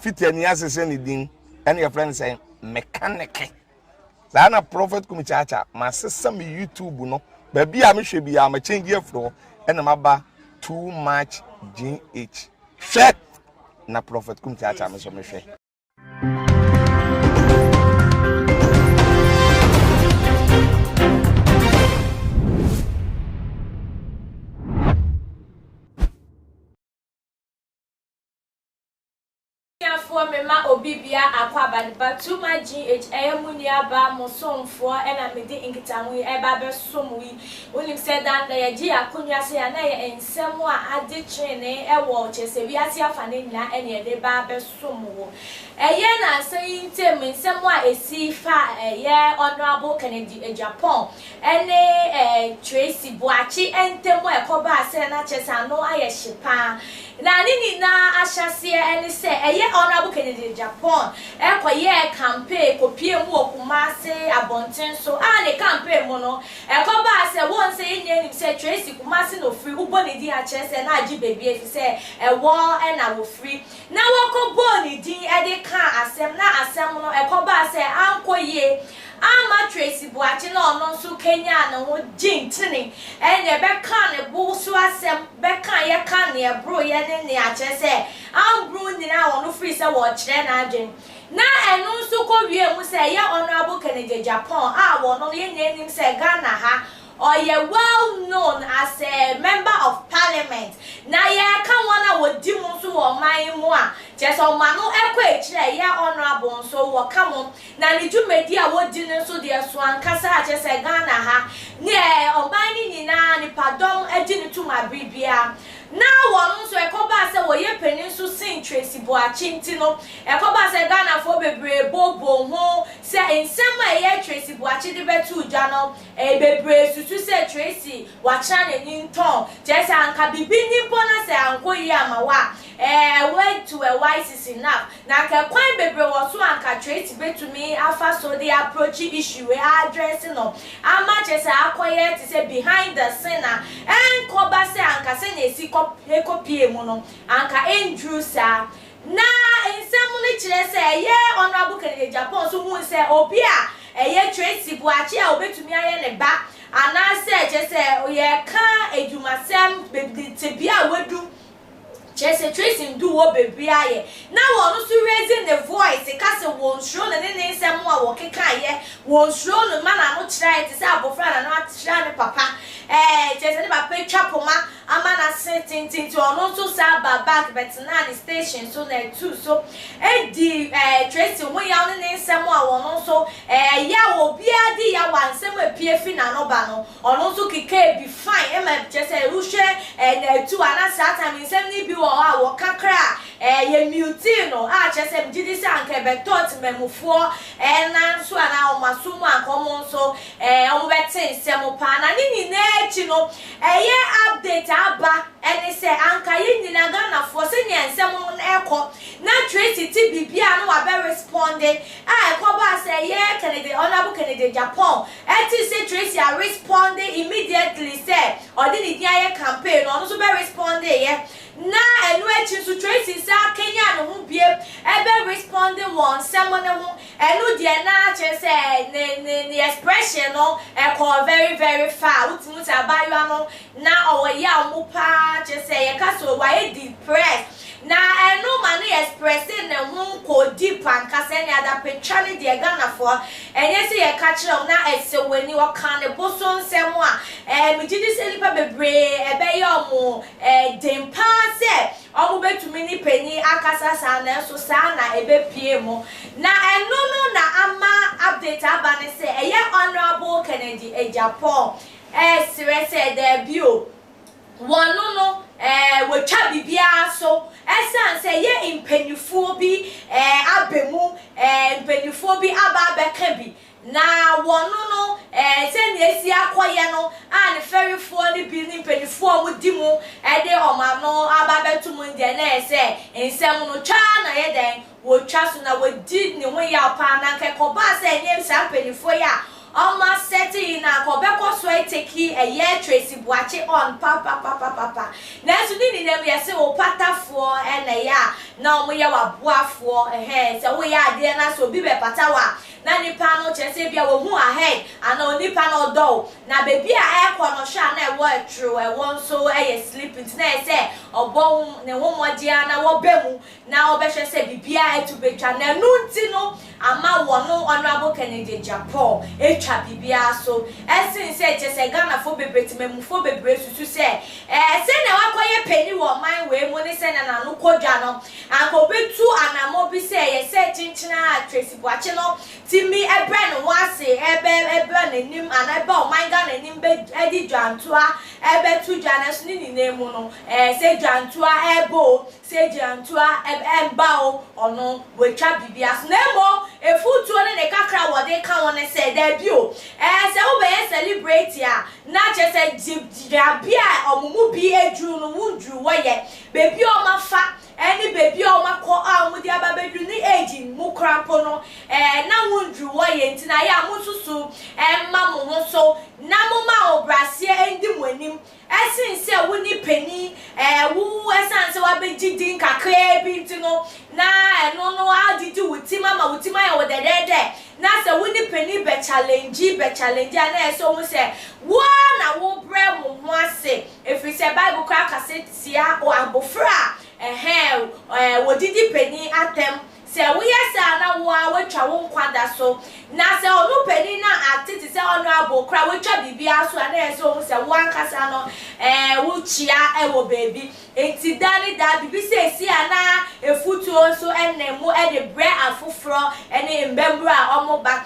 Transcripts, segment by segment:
fiti ani ase sɛ ne din ɛne yɛfrɛ no sɛ mekaneke saa na prophet kum kyaakya masesa me youtube no baabi a mehwɛ bi a makyɛngye afiri hɔ ɛna maba too much gh hwɛ na prophet kum kyaakya me so mehwɛ Abusuafoɔ me ma obi bia akwaban but to my GH ɛyɛ mo nua baa mo somfoɔ ɛna me de nkitaho yi ɛba bɛ som wo yi wonim sɛ da nda yɛ gye yɛ akonwa sɛ yɛ na yɛ nsɛm a agye trenee ɛwɔ kyerɛ sɛ wiase afa no nyinaa ɛna yɛ de ba bɛ som wo ɛyɛ nansa yi ntem nsɛm a ɛsii faa ɛyɛ honourable Kennedy Agyapong ɛne ɛɛ Tracy Boakye ntam a ɛkɔbaa sɛ na kyerɛ sɛ ano ayɛ hye pa ara. Na ne nyinaa ahyɛaseɛ ne sɛ ɛyɛ Honourable Kennedy Agyapong kɔyɛɛ campaign kɔpuee mu wɔ Kumase abɔnten so a ne campaign mu no ɛkɔbaa sɛ wɔn sɛ yɛn nyinaa nim sɛ Tracy Kumase na ɔfiri, wobɔ ne din a kyerɛ sɛ na agye baabi a ɛfiri sɛ ɛwɔ na wɔfiri. Na wɔkɔbɔɔ ne din de kaa asɛm, na asɛm no, ɛkɔbaa sɛ ankɔ yie amma Tracy Boakye na ɔno nso kanyaa ne ho gyee ntini, ɛnneɛ bɛkaa ne bo so asɛm, bɛkaa yɛ kaa nea ɛboroeɛ ne nea kyerɛ sɛ amboro nyinaa wɔ no firi sɛ wɔrekyerɛ n'adwene. Na ɛno nso kɔwiee mu sɛ ɛyɛ Honourable Kennedy Agyapong a wɔnom yɛ nyinaa nim sɛ Ghana ha Ɔyɛ well known as a member of parliament na yɛka wɔn a wɔdi mu nso wɔ ɔman yi mu a, kyerɛ sɛ wɔn ano kɔ akyiri a ɛyɛ honourable nso wɔka ho na ne dwumadi a wɔdi no nso deɛ ɛso ankasa a kyerɛ sɛ Ghana ha ne ɔman no nyinaa nnipadɔm gye no tom abere biara na wɔn nso ɛkɔbaa sɛ wɔyɛ panin nso sen Tracy Boakye nti no ɛkɔbaa sɛ Ghanafoɔ bebree booboo ho sɛ nsɛm a ɛyɛ Tracy Boakye de bɛtoo dwa no Ɛɛ bebree susu sɛ Tracy wakyerɛ n'ani ntɔn kyerɛ sɛ anka biribi ni mpo na sɛ ankɔ yie amma wo a ɛɛ ɛwɛ to ɛwae sisi no up na anka ɛkwan bebree wɔ so a anka Tracy bɛtumi afa so de approachi issue wei a address no amma kyerɛ sɛ akɔ yɛ te sɛ behind the scene a ɛnkɔ ba sɛ anka sɛnea ɛsi kɔ ɛkɔ pie mu no anka ɛnduru saa Ná nsɛm no kyerɛ sɛ ɛyɛ Honourable Kennedy Agyapong nso hui sɛ obi a ɛyɛ Tracy Boakye a obetumi ayɛ ne ba anaasɛ kyerɛ sɛ yɛreka adwumasɛm bebde tebea a wadu kyerɛ sɛ Tracy ndu hɔ bebre a yɛ na wɔ ɔno nso raising ne voice ka sɛ wɔnsuro no ne ne nsɛm a wɔkekaeɛ wɔnsuro no ma n'ano kyerɛeɛ te sɛ abɔfra a n'ano akyerɛ ne papa ɛɛ kyerɛ sɛ ne papa atwa poma ama no asene tenten nti ɔno nso san baa back bɛtenaa ne station so na atuu so adi ɛɛ Tracy ho yaw ne ne nsɛm a ɔno nso ɛɛ ɛyaw a obiara di yaw a nsɛm a epue fi n'ano ba no ɔno nso kekaa bi fine ɛma kyerɛ sɛ wohwɛ ɛɛ na atuu a na saa time nsɛm no bi wɔ hɔ a wɔka kra a ɛɛ yɛ mutee no a kyerɛ sɛ megye di sɛ anka ɛbɛtɔɔ temammufoɔ ɛɛ nan so anaa wɔn asom mu a anka wɔn nso ɛɛ wɔbɛte nsɛm paa na ne nyinaa akyi no Ɛyɛ update aba ɛne sɛ anka yɛn nyinaa Ghanafoɔ sɛnea nsɛm no ɛkɔ na Tracy te biribiara na wabɛ responde a ɛkɔ baa sɛ ɛyɛ Kennedy Honourable Kennedy Agyapong ɛte sɛ Tracy a responde immediately sɛ ɔde ne din ayɛ campaign no ɔno nso bɛ respondeeɛ na ɛno akyi nso Tracy nsa akanyan ne ho biem ɛbɛ responde wɔn nsɛm no ho Ɛno deɛ na kyerɛ sɛ ne ne ne expression no ɛkɔɔ very very far wotumi hu sɛ abaayewa no na ɔwɔ yaw mu paa kyerɛ sɛ yɛka sɛ wayɛ depressed na ɛno ma no expresse ne ho kɔ deep ankasa ɛne adapɛtwa no deɛ Ghanafoɔ ɛnyɛ sɛ yɛka kyerɛ wɔn na ɛsɛ wɔn ani ɔkaa ne bo so nsɛm a ɛɛ megye di sɛ nnipa bebree ɛbɛyɛ wɔn ɛɛ den paa sɛ Wɔbɛtumi ne panin akasa saa nanso saa na ɛbɛpue mu. Na ɛno no na ama update aba no sɛ ɛyɛ Honourable Kennedy Agyapong ɛresrɛ sɛ daabi o, wɔn no eh, wɔatwa biribiara so ɛsiane sɛ ɛyɛ mpaninfoɔ bi eh, aba mu eh, mpaninfoɔ bi aba abɛka bi. Na wɔno no, ɛɛ, sɛnea asi akɔyɛ no, a ne fɛrefoɔ no bi ne mpanimfoɔ a wɔdi mu de wɔn ano aba abɛto mu no deɛ, na ɛyɛ sɛ nsɛm no twa ara na wɔyɛ dɛn? Wɔtwa so, na wɔdi ne ho yaw pa ara. Na anka ɛkɔbaa sɛ ɛnyɛ saa mpanimfoɔ yi a wɔasɛte yi na anka wɔbɛkɔ so ateki ɛyɛ Tracy Boakye on papapapapa. Nanso ne nyinaa mu, yɛse wo patafoɔ na ɛyɛ a na wɔyɛ w'aboafoɔ, ɛhɛɛ, sɛ woyɛ adeɛ na sɛ obi bɛpata wo a, na nipa no kyerɛ sɛ ebia wɔhu ahead anaa onipa no ɔdɔ wo na baabi a ɛrekɔ no hwɛ a na ɛwɔ ɛtoro ɛwɔ nso ɛyɛ slippery nti na ɛyɛ sɛ ɔbɔ wo ne ho mmɔden ara na wɔbɛ mu na wɔbɛhwɛ sɛ biribiara atu bɛtwa na ɛno nti no ama wɔno Honourable Kennedy Agyapong atwa biribiara so ɛsen sɛ kyerɛ sɛ Ghanafoɔ bebree temamufoɔ bebree susu sɛ ɛɛ sɛnea wakɔyɛ panin wɔ ɔman wei mu ne sɛnea n'ano kɔdwa no anka ɔbɛtu anammɔ bi sɛ ɛyɛ sɛ kyenkyen ara Tracy Boakye no tumi brɛ ne ho ase bɛ bɛ n'anim anaa bɛ ɔman Ghana anim bɛ de dwantoa bɛ to dwa nanso ne nyinaa mu no ɛɛ sɛ dwantoa bɔ o sɛ dwantoa mba o ɔno watwa biribiara so na mmom afutuo ne ne kakra a wɔde ka ho ne sɛ daabi o ɛɛ sɛ wo bɛyɛ celebrate a na kyerɛ sɛ gyinabeɛ a wɔn mu bi aduru no wo nduru wɔyɛ baabi a wɔn afa ne baabi a wɔakɔ a wɔde aba abɛduru ne age mu koraa mpo no, ɛɛ, na wonnuru hɔ yɛ nti no, ayɛ a monsusu mma mo ho so na momma ahobrɛaseɛ ndi mo anim sene sɛ wo ne panin, ɛɛ, wo, ɛsiane sɛ woabɛgye din kakraa bi nti no, na ɛno no agyegye wo tirim ama wo tirim ayɛ wo dɛdɛɛdɛ, na sɛ wo ne panin bɛkyalengyi, bɛkyalengyi a, na ɛsɛ sɛ ɔhu sɛ wo ara na wobrɛ wo ho ase. Efrisɛ Bible koraa kasa tia abofra a ɛhɛ a wɔdidi panin atɛm. Sɛ woyɛ saa a na wo ara woatwa wo nkwa da so. Na sɛ ɔno panin no ante te sɛ honourable koraa a watwa biribiara so a na ɛyɛ sɛ ɔhu sɛ wo ankasa no wokyea wɔ baabi. Enti da ne da biribi sɛ ɛsi a na afutuo nso nna mu de brɛ afoforɔ ne mmabunu a wɔba.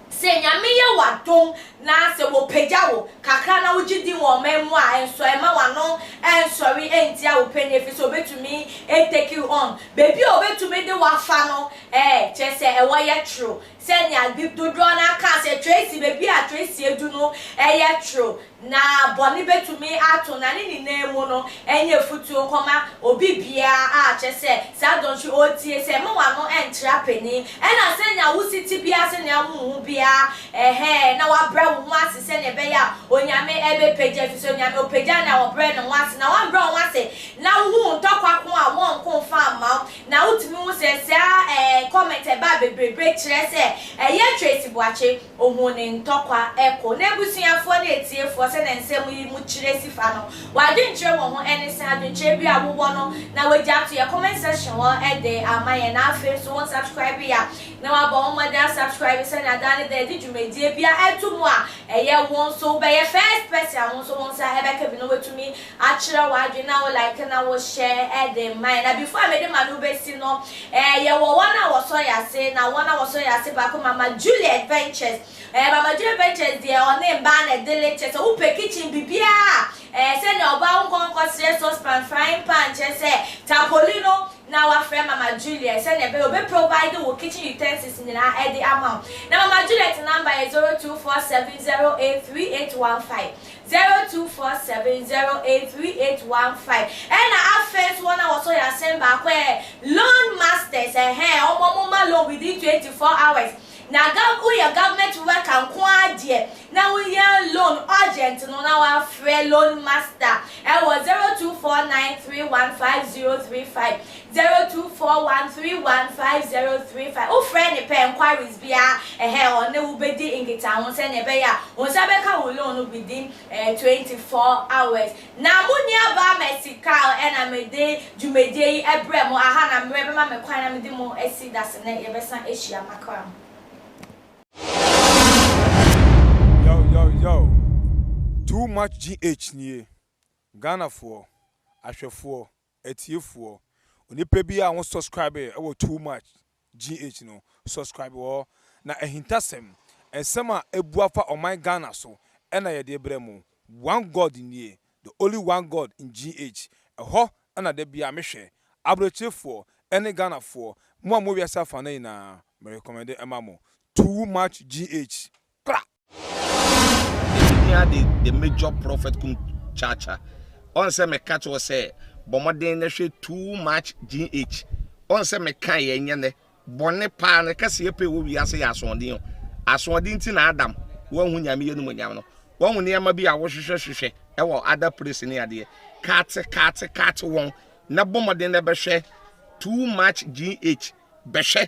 Sɛ Nyame yɛ wo adom na sɛ wɔpagya wo kakra na wogye din wɔ ɔman mu a, ɛnsɔ, ɛmma w'ano ɛnsɔre ɛntia wo panin efisɛ ɔbɛtumi a take you on. Baabi a ɔbɛtumi de wo afa no ɛɛ, kyerɛ sɛ ɛhɔ yɛ toro sɛnea dodoɔ no ara kaa sɛ Tracy, baabi a Tracy adu no ɛyɛ toro Na bɔne betumi ato na ne nyinaa mu no ɛnyɛ afutuo kɔma obi biara a kyerɛ sɛ saa dɔnhwere ɔretie sɛ mma w'ano ntra panin ɛna sɛnea wo si te biara sɛnea wo ho biara ɛhɛɛ na w'abrɛ wo ho ase sɛnea ɛbɛyɛ a Onyame ɛbɛpagya efisɛ Onyame ɔpagya nea wɔbrɛ ne ho ase na w'ambrɛ wɔn ase na wo hu ntɔkwa ko a wɔnko mfa mma wo na wotumi hu sɛ saa ɛɛ comment ɛbaa bebrebe kyerɛ sɛ ɛyɛ Tracy Boakye Ohun ne ntɔkwa ɛko. N'abusuafoɔ ne atiefoɔ, sɛdeɛ nsɛm yi mu kyerɛ si fa no, w'adwenkyerɛ wɔ ho ɛne sɛ adwenkyerɛ bi a wowɔ no na w'agya ato yɛ comments section hɔ de ama yɛn na afei nso wo nsubscribe yɛ a na wabɔ wo mmɔden asubscribe sɛnea daa ne daa yɛde dwumadie biara to mu a ɛyɛ wo nso wobɛyɛ first person a wo nso wo nsa ɛbɛka bi na w'atumi akyerɛ w'adwene na wo like na wo share de ma yɛn na before a me de ma no bɛsi no eh, yɛ wɔ wɔn a wɔ sɔ yɛ ase na wɔn a wɔ sɔ yɛ ase baako mama Juliet Ventures eh, mama Juliet Ventures deɛ ɔne mbaa na ɛde le kyɛ sɛ wo pɛ kitchen bibiaa eh, sɛ nea ɔbaa wo nkɔ nkɔ srɛ sauce pan frying pan kyerɛ sɛ tapoli no na wa frɛ mama Juliet sɛ nea ɛbɛyɛ ɔbɛ provide wo kitchen utensils nyinaa ɛde ama wo na mama Juliet number yɛ zero two four seven zero eight three eight one five 0247083815 Ɛna afei nso wɔn a wɔsɔ yɛn asɛm baako yɛ loan masters ɛhɛn wɔn a wɔn ma loan within twenty four hours na gov wo yɛ government worker nko ara deɛ na wo yɛ loan urgent no na wa frɛ loan master ɛwɔ zero two four nine three one five zero three five zero two four one three one five zero three five. Wofrɛ no pɛ, enquiries biara, ɛhɛ, ɔne wo bedi nkitaho sɛnea ɛbɛyɛ a wo nsa bɛka wo loan no within eh, twenty four hours. Na mo nua baa Mercy Carl ɛna mede dwumadie yi ɛbrɛ mo, aha na mmerɛ bɛma me kwan na mede mo asi dase nɛ yɛbɛsan ahyia makra mo. Yo yo yo! Too much GH nie! Ghanafoɔ, ahwɛfoɔ, Atiefoɔ, Onipa bi a wo subscribe wɔ too much GH no subscribe hɔ na ahintasɛm, nsɛm a ɛbu afa ɔman Ghana so na yɛde brɛ mo. One God nie, the only one God in GH. Ɛhɔ na da biara me hwɛ. Abrɛkyerefoɔ ne Ghanafoɔ, mo a mo wɔ wiase afa no nyinaa, me recommende ma mo. Too much GH. Kra! Ɛhia de the major prophet kum chacha. Ɔn sɛ me ka kyerɛ sɛ bɔ mmɔden na hwɛ too much GH. Ɔn sɛ me ka yɛ nyɛ nɛ. Bɔne paa ne kɛseɛ pɛ wɔ wiase yɛ asoɔden o. Asoɔden nti na Adam wanhu Nyame yɛ numonyam no. Wahu nneɛma bi a wo hwehwɛ hwehwɛ ɛwɔ other place ne adeɛ. Kate kate kate wɔn na bɔ mmɔden na bɛhwɛ too much GH. Bɛhwɛ.